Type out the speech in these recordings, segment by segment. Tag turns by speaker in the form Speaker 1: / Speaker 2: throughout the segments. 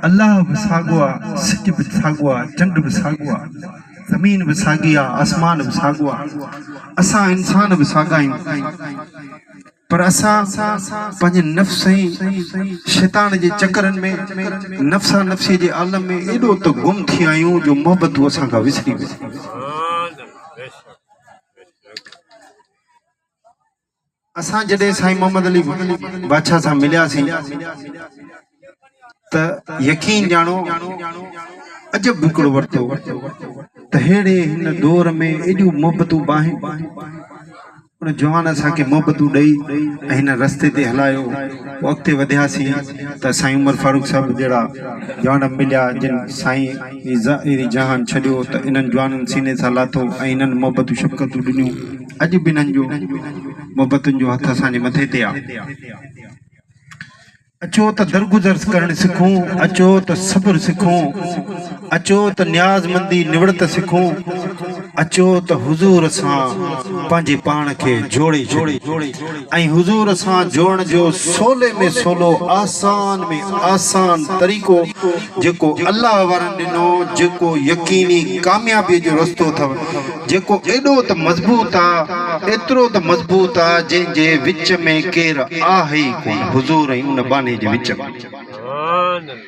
Speaker 1: الله به ساڳيو آ، سج به ساڳيو آ، چنڊ به ساڳيو آ، زمين به ساڳي آ، آسمان به ساڳيو آ، اسان انسان به ساڳيا آهيون، پر اسان پنهنجي نفس ۽ شيطان جي چڪرن ۾ نفسا نفسيء جي عالم ۾ ايڏو ته گم ٿي ويا آهيون جو محبتون اسان کان وسري ويون. اسان جڏهن سائين محمد علي بادشاهه سان ملياسين ته يقين ڄاڻو عجب ڏکڙو ورتو ته ههڙي هن دور ۾ ايڏيون محبتون به آهن. ان جوان اسان کي محبتون ڏئي ۽ هن رستي تي هلايو. پوء اڳتي وڌياسين ته سائين عمر فاروق صاحب جهڙا جوان به مليا جن سائين هي ظاهري جهان ڇڏيو ته انهن جوانن سيني سان لاٿو ۽ هنن محبتون شفقتون ڏنيون. اڄ به انهن جون محبتن جو هٿ اسان جي مٿي تي آهي. اچو ته درگذر ڪرڻ سکون، اچو ته صبر سکون، اچو ته نيازمندي نوڙت سکون، اچو ته حضور سان پنهنجي پاڻ کي جوڙي ڇڏيون. ۽ حضور سان جوڙڻ جو سولي ۾ سولو آسان ۾ آسان طريقو جيڪو الله وارن ڏنو جيڪو يقيني ڪاميابي جو رستو اٿو جيڪو ايڏو ته مضبوط آ ايترو ته مضبوط آ جنهن جي وچ ۾ ڪير آهي ئي ڪونه حضور ۽ ان ٻانهي جي وچ ۾.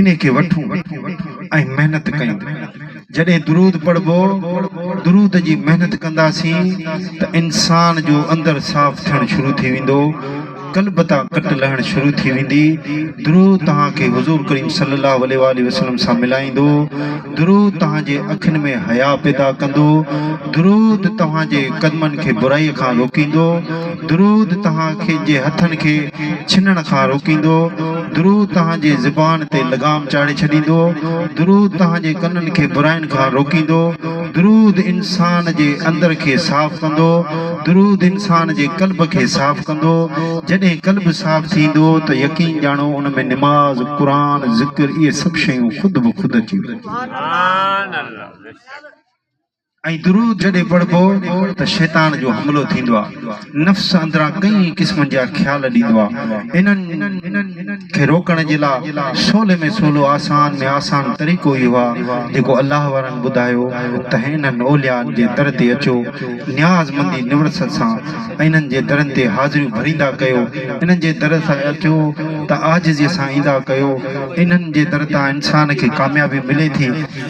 Speaker 1: انهي کي وٺون ۽ محنت ڪيون. جڏهن درود پڙهبو، درود جي محنت ڪنداسين ته انسان جو اندر صاف ٿيڻ شروع ٿي ويندو، قلب تان ڪٽ لهڻ شروع ٿي ويندي، درود توهان کي حضور ڪريم صلي الله عليه واٰله وسلم سان ملائيندو، درود توهان جي اکين ۾ حيا پيدا ڪندو، درود توهان جي قدمن کي برائي کان روڪيندو، درود توهان جي هٿن کي ڇنڻ کان روڪيندو، درود توهان جي زبان تي لغام چاڙهي ڇڏيندو، درود توهان جي ڪنن کي براين کان روڪيندو، درود انسان جي اندر کي صاف ڪندو، درود انسان جي قلب کي صاف ڪندو، جڏهن قلب صاف ٿيندو ته يقين ڄاڻو ان ۾ نماز، قرآن، ذڪر اهي سڀ شيون خود به خود اچي وينديون. ۽ درود جڏهن پڙهبو ته شيطان جو حملو ٿيندو آ، نفس اندران ڪئين قسمن جا خيال ڏيندو آ، انهن کي روڪڻ جي لا سولي ۾ سولو آسان ۾ آسان طريقو اهو آ جيڪو الله وارن ٻڌايو ته هينئن انهن اوليائن جي در تي اچو، نياز مندي نوڙت سان انهن جي درن تي حاضريون ڀريندا ڪيو، انهن جي در تان اٿيو ته عاجزيء سان ايندا ڪيو، انهن جي در تان انسان کي ڪاميابي ملي ٿي،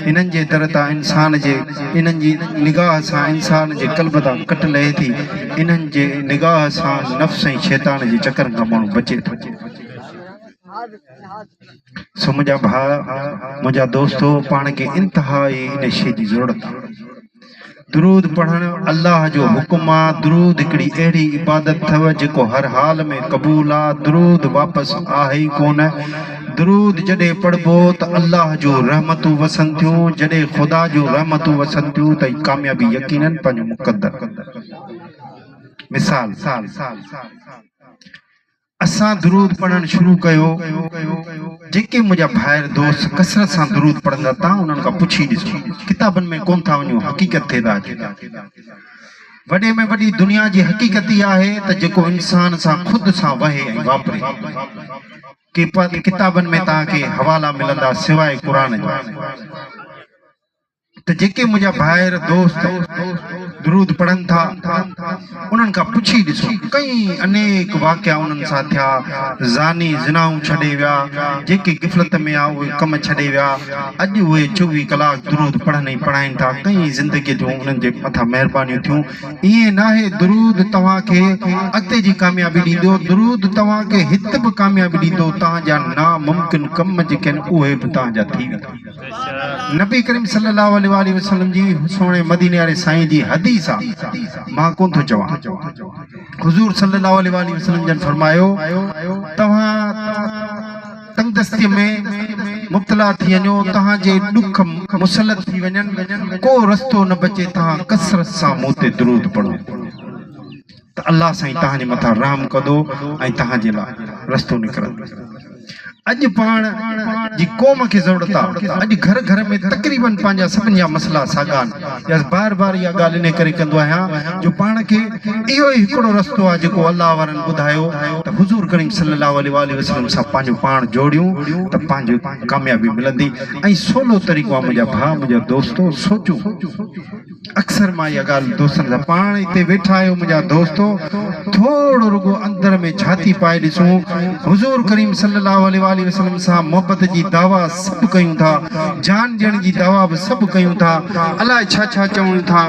Speaker 1: انهن جي در تان انسان جي انهن جي نگاهه سان انسان جي قلب تان ڪٽ لهي ٿي، انهن جي نگاهه سان نفس ۽ شيطان جي چڪرن کان ماڻهو بچي ٿو. سو منهنجا ڀاء، منهنجا دوستو پاڻ کي انتهائي ان شيء جي ضرورت آ. درود پڙهڻ الله جو حڪم آ، درود هڪڙي اهڙي عبادت اٿو جيڪو هر حال ۾ قبول آ، درود واپس آهي ئي ڪونه، درود جڏهن پڙهبو ته الله جون رحمتون وسن ٿيون، جڏهن خدا جون رحمتون وسن ٿيون ته ئي ڪاميابي يقيناً پنهنجو مقدر ڪندو. مثال، اسان درود پڙهڻ شروع ڪيو، جيڪي منهنجا ڀائر دوست ڪثرت سان درود پڙهندا تان انهن کان پڇي ڏسو، ڪتابن ۾ ڪونه ٿا وڃون حقيقت تي ٿا اچون. وڏي ۾ وڏي دنيا جي حقيقت اها آهي ته جيڪو انسان سان خود سان وهي ۽ واپري. ڪي ڪتابن ۾ توهان کي حوالا ملندا سواء قرآن جي. ته جيڪي منهنجا ڀائر دوست درود پڙهن ٿا انهن کان پڇي ڏسو ڪئين انيڪ واقعا انهن سان ٿيا زاني زنائون ڇڏي ويا جيڪي غفلت ۾ آ اهي ڪم ڇڏي ويا اڄ اهي چوويهه ڪلاڪ درود پڙهن ۽ پڙهائين ٿا ڪئين زندگي جون انهن جي مٿان مهربانيون ٿيون ائين ناهي درود توهان کي اڳتي جي ڪاميابي ڏيندو درود توهان کي هت به ڪاميابي ڏيندو تهان جا ناممڪن ڪم جيڪي آهن اهي به تهان جا ٿي ويندا. نبي ڪريم صلي الله عليه واٰله وسلم جي سهڻي مديني واري سائين جي حديث آ مان ڪون ٿو چوان حضور صلي الله عليه واٰله وسلم جن فرمايو توهان تنگدستي ۾ مبتلا ٿي وڃو توهان جي ڏک مسلط ٿي وڃن ڪو رستو نه بچي توهان ڪثرت سان مون تي درود پڙهو ته الله سائين توهان جي مٿان رحم ڪندو ۽ توهان جي لاء رستو نڪرندو. اڄ پاڻ جي قوم کي ضرورت آ اڄ گهر گهر ۾ تقريبن پنهنجا سڀني جا مسئلا ساڳا آهن يس بار بار اها ڳالهه انهي ڪري ڪندو آهيان جو پاڻ کي اهو ئي هڪڙو رستو آ جيڪو الله وارن ٻڌايو ته حضور ڪريم صلي الله عليه واٰله وسلم سان پنهنجو پاڻ جوڙيون ته پنهنجي ڪاميابي ملندي ۽ سولو طريقو آ منهنجا ڀاء منهنجا دوستو سوچون اڪثر مان اها ڳالهه دوستن سان پاڻ اتي ويٺا آهيو منهنجا دوستو ٿورڙو رڳو اندر ۾ ڇاتي پائي ڏسون حضور ڪريم صلي الله عليه واٰله وسلم سان محبت جي دعويٰ سڀ ڪيون ٿا جان ڏيڻ جي دعويٰ به سڀ ڪيون ٿا الاء ڇا ڇا چون ٿا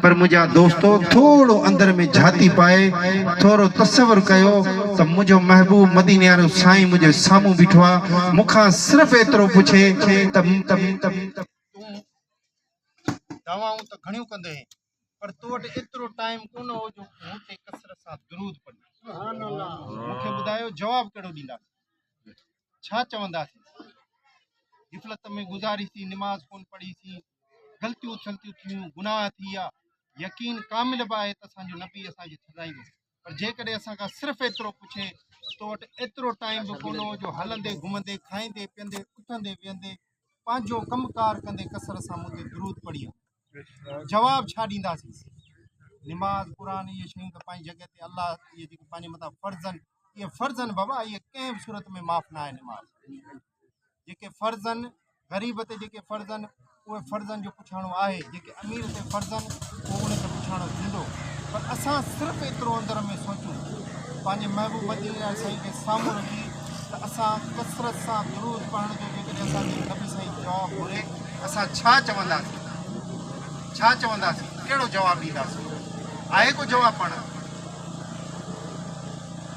Speaker 1: پر منهنجا دوستو ٿورڙو اندر ۾ ڇاتي پائي ٿورو تصور ڪيو ته منهنجو محبوب مديني وارو سائين منهنجي سامهون بيٺو آهي مون کان صرف ايترو پڇي ته تون دعوائون ته گهڻيون ڪندي هين پر تو وٽ ايترو ٽائيم ڪونه هو جو مون تي ڪثرت سان درود پڙهين. مون کي ٻڌايو جواب ڪهڙو ڏينداسين؟ ڇا چونداسين؟ غفلت ۾ گذاري سين، نماز ڪونه پڙهي سين، غلطيون ٿلطيون ٿيون، گناهه ٿي ويا، يقين ڪامل به آهي ته اسان جو نبي اسان کي سزائيندو. پر جيڪڏهن اسان کان صرف ايترو پڇي ته تو وٽ ايترو ٽائيم به ڪونه هو جو هلندي گهمندي کائيندي پيئندي اٿندي ويهندي پنهنجو ڪم ڪار ڪندي ڪثرت سان مون تي درود پڙهي ها جواب ڇا ڏينداسين نماز قرآن اهي شيون ته پنهنجي جڳهه تي الله اهي جيڪي پنهنجي مٿان فرض آهن اهي فرض آهن بابا اهي ڪنهن به صورت ۾ معاف نه آهي نماز جيڪي فرض آهن غريب تي جيڪي فرض آهن اهي فرضن جو پڇاڻو آهي جيڪي امير تي فرض آهن اهو ان تي پڇاڻو ٿيندو پر اسان صرف ايترو اندر ۾ سوچون پنهنجي محبوب مدين عليه سائين کي سامهون رکي ته اسان ڪثرت سان درود پڙهڻ جو جيڪڏهن اسانکي نبي سائين جواب گهري اسان ڇا چونداسين ڇا چونداسين ڪهڙو جواب ڏينداسين آهي ڪو جواب پاڻ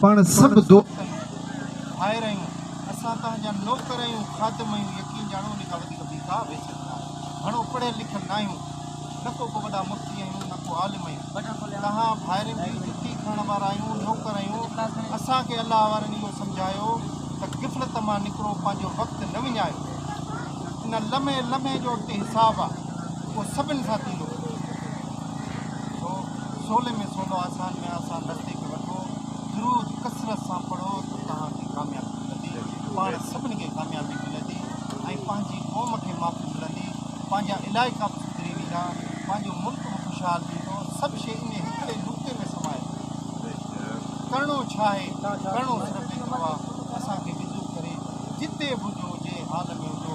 Speaker 1: پاڻ سڀ دوست آهيون، ڀائر آهيون، اسان تنهن جا نوڪر آهيون، خادم آهيون، يقين ڄاڻو ان کان وڌيڪ ٻي ڪا ويسٽ نه آهي، گهڻو پڙهيل لکيل نه آهيون، نه ڪو ڪو وڏا مفتي آهيون، نه ڪو عالم آهيون، توهان ڀائرن جي جتي کڻڻ وارا آهيون، نوڪر آهيون، اسان کي الله وارن اهو سمجهايو ته غفلت مان نڪرو، پنهنجو وقت نه وڃايو، ان لمحي لمحي جو اڳتي حساب آهي، اهو سڀن سان ٿيندو. سولي ۾ سولو، آسان ۾ آسان درجي کي وٺو، درود ڪثرت سان پڙهو ته توهان کي ڪاميابي ملندي، پاڻ سڀني کي ڪاميابي ملندي ۽ پنهنجي قوم کي معافي ملندي، پنهنجا علائقا به سڌري ويندا، پنهنجو ملڪ به خوشحال ٿيندو، سڀ شيء انهي هڪڙي نقطي ۾ سمائي پئي ٿي. ڪرڻو ڇا آهي؟ ڪرڻو صرف ايترو آهي، اسان کي وضو ڪري جتي به هجو، جنهن حال ۾ هجو،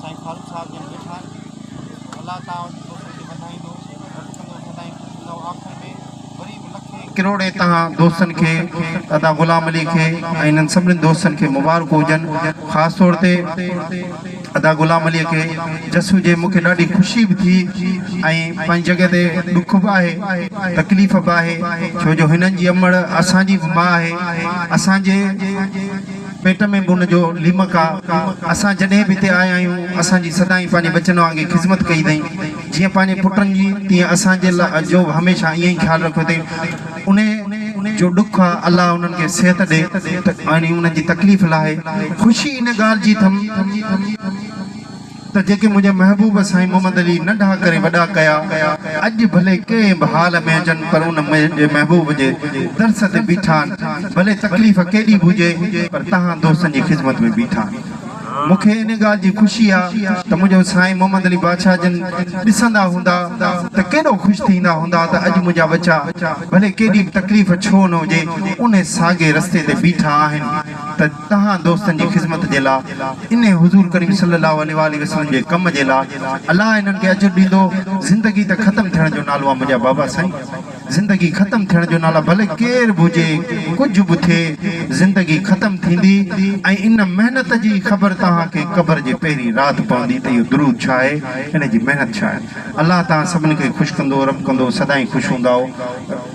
Speaker 1: سائين فاروق صاحب جن ويٺا آهن الله تعالي جي دوستن کي وڌائيندو رب ڪندو سدائين خوش رهندؤ آخر ۾ وري به لکين ڪروڙين توهان دوستن کي ادا غلام علي کي ۽ انهن سڀني دوستن کي مبارڪون هجن خاص طور تي ادا غلام علي کي جسو جي مونکي ڏاڍي خوشي به ٿي ۽ پنهنجي جڳهه تي ڏک به آهي تڪليف به آهي ڇو جو هنن جي امڙ اسان جي به ماء آهي اسان جي پيٽ ۾ به ان جو ليمڪ آ. اسان جڏهن به هتي آيا آهيون، اسان جي سدائين پنهنجي ٻچن وانگي خذمت ڪئي اٿئي. جيئن پنهنجي پٽن جي، تيئن اسان جي لا جو به هميشه ائين ئي خيال رکيو اٿئي. انهيء جو ڏک آ، الله انهن کي صحت ڏي ۽ انهن جي تڪليف لاهي. خوشي ان ڳالهه جي اٿم. ته جيڪي منهنجي محبوب سائين محمد علي ننڍا ڪري وڏا ڪيا، اڄ ڀلي ڪنهن به حال ۾ هجن پر ان منهنجي محبوب جي درس تي بيٺا آهن، ڀلي تڪليف ڪيڏي به هجي پر تهان دوستن جي خدمت ۾ بيٺا آهن. مون کي ان ڳالهه جي خوشي آ ته منهنجو سائين محمد علي بادشاهه جن ڏسندا هوندا ته ڪيڏو خوش ٿيندا هوندا ته اڄ منهنجا ٻچا ڀلي ڪيڏي به تڪليف ڇو نه هجي انهي ساڳي رستي تي بيٺا آهن ته تهان دوستن جي خذمت جي لا انهي حضور ڪريم صلي الله عليه واٰله وسلم جي ڪم جي لا الله انهن کي اجر ڏيندو زندگي ته ختم ٿيڻ جو نالو آ منهنجا بابا سائين زندگي ختم ٿيڻ جو نالا ڀلي ڪير به هجي ڪجهه به ٿئي زندگي ختم ٿيندي ۽ ان محنت جي خبر تهان کي قبر جي پهرين رات پوندي ته اهو درود ڇا آهي ان جي محنت ڇا آهي الله تهان سڀن کي خوش ڪندو رب ڪندو سدائين خوش هوندائو.